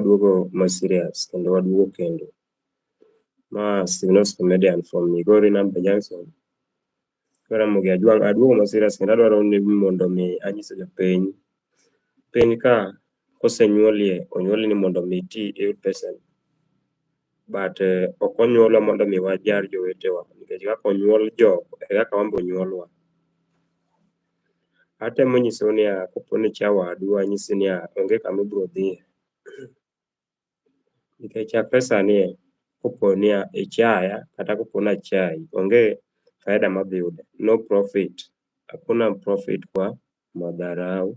waduogo ma serious kendo waduogo kendo. Ma Siminos Comedian from Migori Namba Junction. Koro Ramogi Ajwang' aduogo ma serious kendo adwaro ni mondo mi anyiso jopiny. Piny ka kosenyuolie onyuoli ni mondo mi iti iyud pesa ni. But eh, ok onyuolwa mondo mi wajar jowetewa nikech kaka onyuol jogo e kaka wan be onyuolwa. Atemo nyisou niya, kopo ni ichaya wadu, anyisi niya, onge kama ibiro dhiye. Nikech chakre sani e, kopo ni ichaya kata kopo ni achayi, onge faida madhi yudo. No profit. Hakuna profit kwa madharau.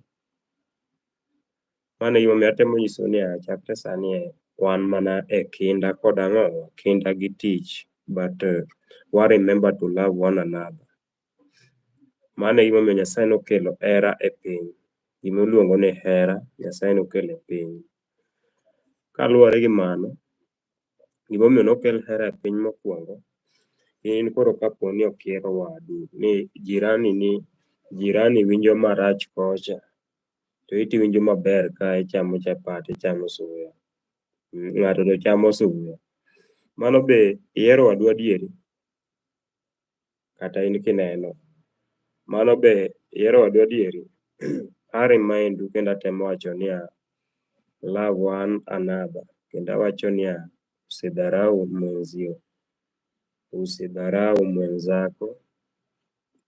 Mano e gimomiyo atemo nyisou niya, chakre sani e, wan mana e kinda kod ang'o? Kinda gi tich. But uh, wa remember to love one another. Mano e gimomiyo Nyasaye nokelo hera e piny. Gimiluongo ni hera, Nyasaye nokelo e piny. Kaluwore gi mano, gimomiyo nokel hera e piny mokwongo, in koro kapo ni ok ihero wadu, ni jirani ni, jirani winjo marach kocha, to iti iwinjo maber ka ichamo chapat, ichamo suya, ng'ato to chamo suya. Mano be ihero wadu adieri? kata in kineno. Mano be ihero wadu adieri? A remind u kendo atemo wacho niya, love one another kendo awacho niya, usidharau mwenzio, usidharau mwenzako.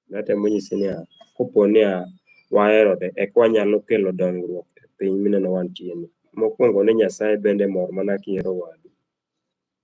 Natemo nyisi niya, kopo niya waherore eka wanyalo kelo dongruok e piny mineno wantieni. Mokwongo ni Nyasaye bende mor mana kihero wadu.